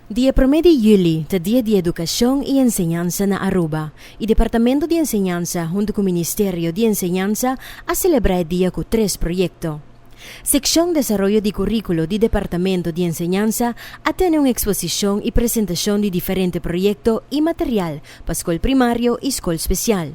Di e promé di yüli ta Dia di Edukashon i Enseñansa na Aruba, i Departamento di Enseñansa huntu ku Ministerio di Enseñansa a selebrá e dia ku tres proyekto. Sekshon Desaroyo di Kuríkulo di Departamento di Enseñansa a tene un eksposishon i presentashon di diferente proyekto i material pa skol primario i skol spesial.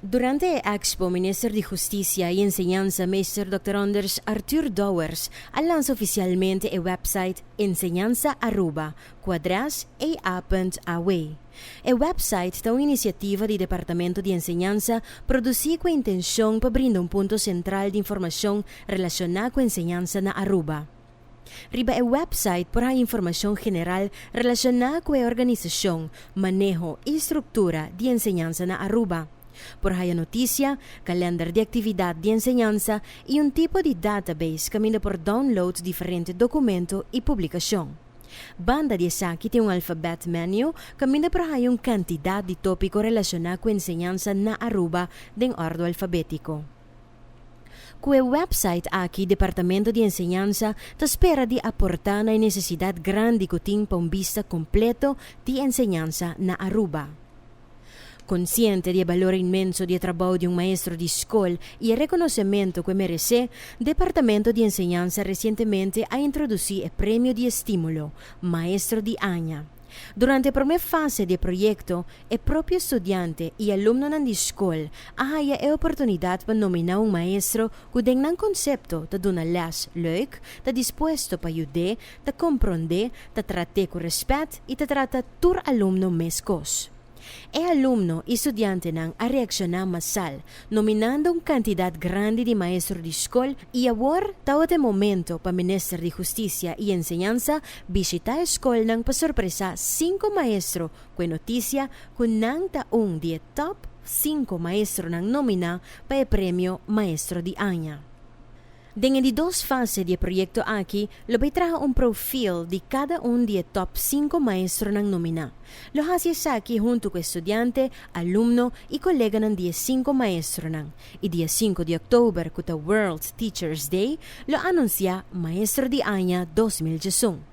Durante e expo Minister di Husticia y Enseñanza Meester Dòkter Anders Arthur Douwers a lansa oficialmente e website Enseñanza Aruba cu adres ea.aw. E website ta un iniciativa di Departamento di Enseñanza produci cu e intencion pa brinda un punto central di informacion relaciona cu enseñansa na Aruba. Riba e wèpsait por haña informashon general relashoná ku e organisashon, maneho i struktura di enseñansa na Aruba. Por haña notisia, kalènder di aktividat di enseñansa i un tipo di database kaminda por download diferente dokumentu i publikashon. Banda di esaki tin un alfabèt menu kaminda por haña un kantidat di tópiko relashoná ku enseñansa na Aruba den òrdu alfabétiko. Ku e wèpsait aki Departamento di Enseñansa ta spera di aportá na e nesesidat grandi ku tin pa un bista kompleto di enseñansa na Aruba. Konsiente di e balor inmenso di e trabou di un maestro di skol i e rekonosementu ku e meresé, Departamento di Enseñansa resientemente a introdusí e Premio di Estímulo, Maestro di Aña. Durante e promé fase di e proyekto, e propio studiante i alumnonan di skol a haya e oportunidat pa nominá un maestro ku den nan konsepto ta duna lès lèuk, ta dispuesto pa yud'é, ta komprond'é, ta trat'é ku rèspèt i ta trata tur alumno meskos. E alumno i studiantenan a reakshoná masal, nominando un kantidat grandi di maestro di skol i awor tabat e momento pa Minister di Hustisia i Enseñansa bishitá e skolnan pa sorpresá sinku maestro ku e notisia ku nan ta un di e top sinku maestronan nominá pa e premio Maestro di Aña. Den e di dos fase di e proyekto aki lo bay traha un profil di kada un di e top sinku maestronan nominá. Lo hasi esaki huntu ku e studiante, alumno i koleganan di e sinku maestronan, i dia sinku di òktober ku ta World Teachers Day lo anunsiá Maestro di Aña dos mil diesun.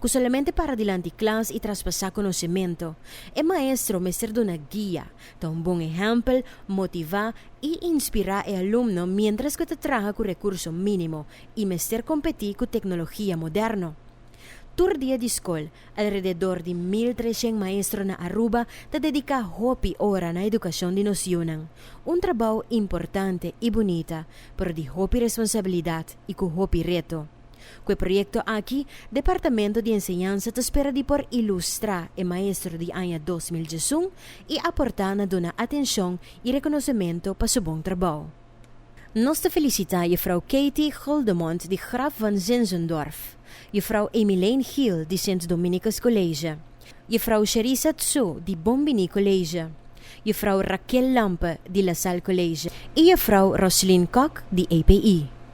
ku solamente para dilanti klas i traspasá konosementu. E maestro mester duna guia, ta un bon ehèmpel, motivá i inspirá e alumno miéntras ku e ta traha ku rekurso mínimo i mester kompetí ku teknologia moderno. Tur dia di skol, alrededor di mil treshen maestro na Aruba ta dediká hopi ora na edukashon di nos yunan, un trabou importante i bunita, pero di hopi responsabilidat i ku hopi reto. Ku e proyekto aki, Departamento di Enseñansa ta spera di por ilustrá e maestro di aña dos mil diesun i aportá na duna atenshon i rekonosementu pa su bon trabou. Nos ta felisitá Juffrouw Katie Guldemond di Graf van Zinzendorf, Juffrouw Emilene Giel di Sint Dominicus College, Juffrouw Sherisa Tsu di Bombini College, Juffrouw Raquel Lampe di La Salle College i Juffrouw Roslyn Kok di API.